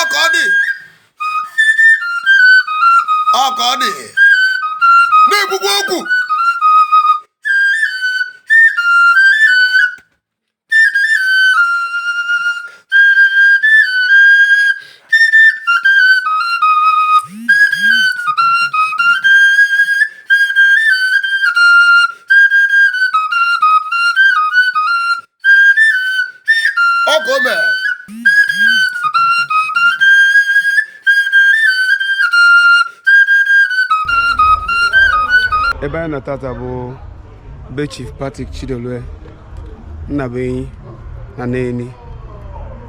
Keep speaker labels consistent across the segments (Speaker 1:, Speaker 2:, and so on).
Speaker 1: ọka ọ dị ọka ọ dị na-ekwukwa okwu ọ ka o mere ebe anyị nọ tata bụ be chief patrick chidolue nnabuenyi na Neni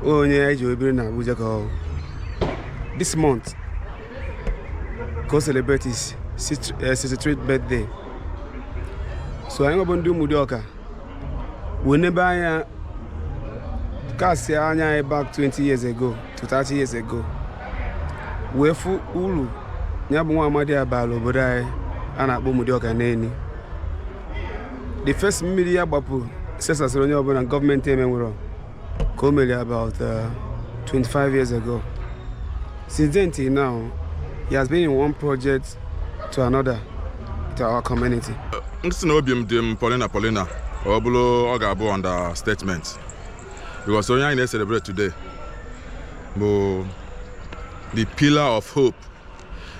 Speaker 1: onye anyị ji biri na abuja ka ọ bụ this month ka o celebrate his 63rd birthday so anyịnwa bụ ndị Umudioka wee nebe anya castịa anya anyị back 20 years ago to 30 years ago wee fụ uru ya bụ nwa amadi a baalụ obodo anyị a na-akpọ Umudioka Neni the first mmiri ya gbapụ sesasịrị onye ọbụla gọọmenti emenwero ka o mere about uh, 25 years ago since then till now he has been in one project to another to our community m sị na obi m dị m polina polina ọ bụrụ ọ ga-abụ understatement because onye anyị na-celebrate today bụ the pillar of hope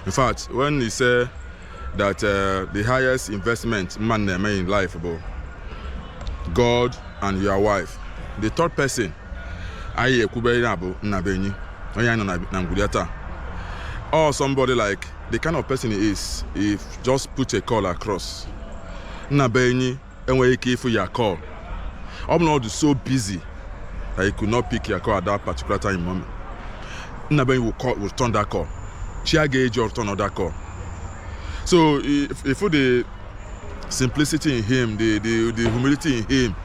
Speaker 1: in fact when he say that uh, the highest investment man na-eme in life bụ god and your wife the third person anyị ekwube ya bụ nnabuenyi onye anyị nọ na- na ngwuru ya taa or somebody like the kind of person he is if just put a call across nnabuenyi nwere ike ịfụ your call ọ bụrụ na ọ dị so busy that he could not pick your call at that particular time in moment nnabuenyi will call will return that call chi aga eji ọ return that call so if if the simplicity in him the the the humility in him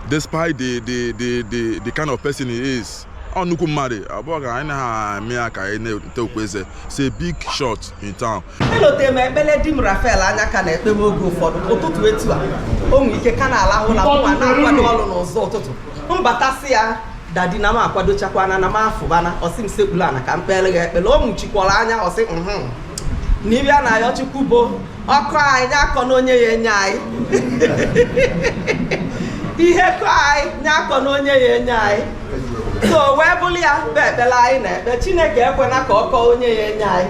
Speaker 1: despite the the the the, the kind of person he is ọ nnukwu mmadụ abụọ ka anyị na-amị ya ka anyị na-ete okpu he's a big shot in town elotere m ekpere di m Rafael Anyaka na-ekpebe oge ụfọdụ ụtụtụ etu a o nwere ike ka na-alahụ ụla mụnwa na-akwado ọrụ n'ụzọ ụtụtụ m bata sị ya dadi na m akwadochakwana na m afụbana ọ sị m sekpuru ana ka m kpeere gị ekpere o nwuchikwara anya ọ sị m na ife a na-ayọ chukwu bụ ọ kọ anyị nya akọna onye ya-enye anyị ihe kọ anyị nya akọna onye ya-enye anyị so wee bụrụ ya bụ ekpere anyị na-ekpe chineke ekwena ka ọ kọọ onye ya-enye anyị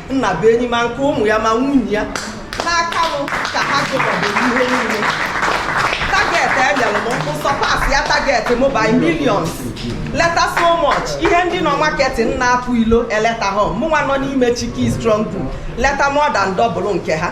Speaker 1: Nnabuenyi ma nke ụmụ ya ma nwunye ya n'aka m ka ha gụbọbụ ihe niile target enyere m mụ surpass ya target m by millions leta so much ihe ndị nọ marketing na-apụ ilo eleta hom mụnwa nọ n'ime chiki strong group leta more than double nke ha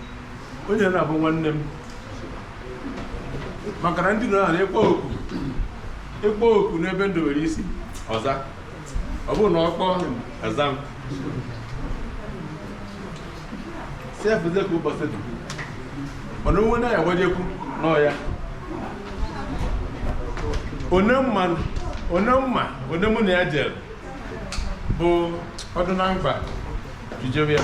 Speaker 1: onye na-abụ nwanne m maka na ndị ọ na-akpọ oku akpọọ oku n'ebe ndị nwere isi ọ za ọ bụrụ na ọ kpọọ ọza m sef ze ka ụbọchị dị mana onwe na ya gbajekwu n'ọya one mma one mma onye mụ na ya jere bụ ọdụ na mkpa jijebe ya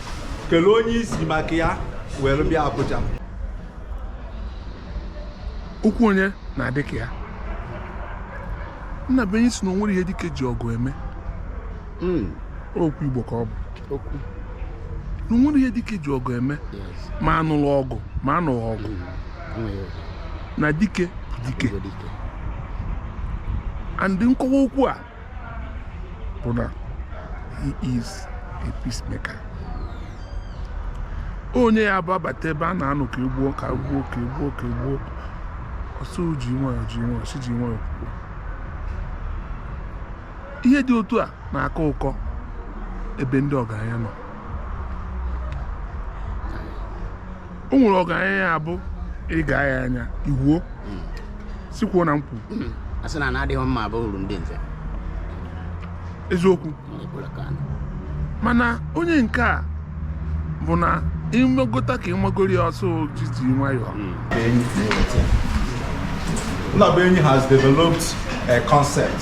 Speaker 1: kelee onye isi maka ya were bịa akọcha okwu onye na-adị ka ya Nnabuenyi sị na onwere ihe dike ji ọgụ eme hmm. okwu Igbo ka ọ bụ na onwere ihe dike ji ọgụ eme ma anụrụ ọgụ ma anụghị ọgụ hmm. na dike dike andị nkọwa okwu a bụ na he is a peacemaker onye ya bụ abata ebe a na-anụ ka egbuo ka egbuo ka egbuo ka egbuo ọ sị ji nwayọọ ji nwayọọ si ji nwayọọ kwuo ihe dị otu a na-akọ ụkọ ebe ndị ọgaranya nọ o nwere ọgaranya ya bụ ị ga ya anya iwuo hmm. sikwuo na nkwu hmm. a sị na ana adịghị mma bụ uru ndị nze eziokwu mana onye nke a bụ na iwegota ka iwegoro ya ọ sị jiri nwayọọ hmm. Nnabuenyi has developed a concept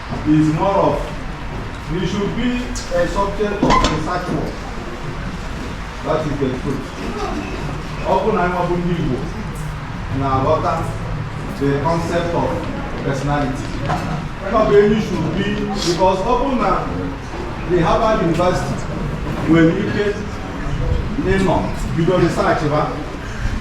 Speaker 1: is more of he should be a subject of research work. That is the truth. Ọ bụ na ịmabụ ndị Igbo na-aghọta the concept of personality. Nnabuenyi should be because ọ bụ na the Harvard University nwere ike ịnọ bido research ha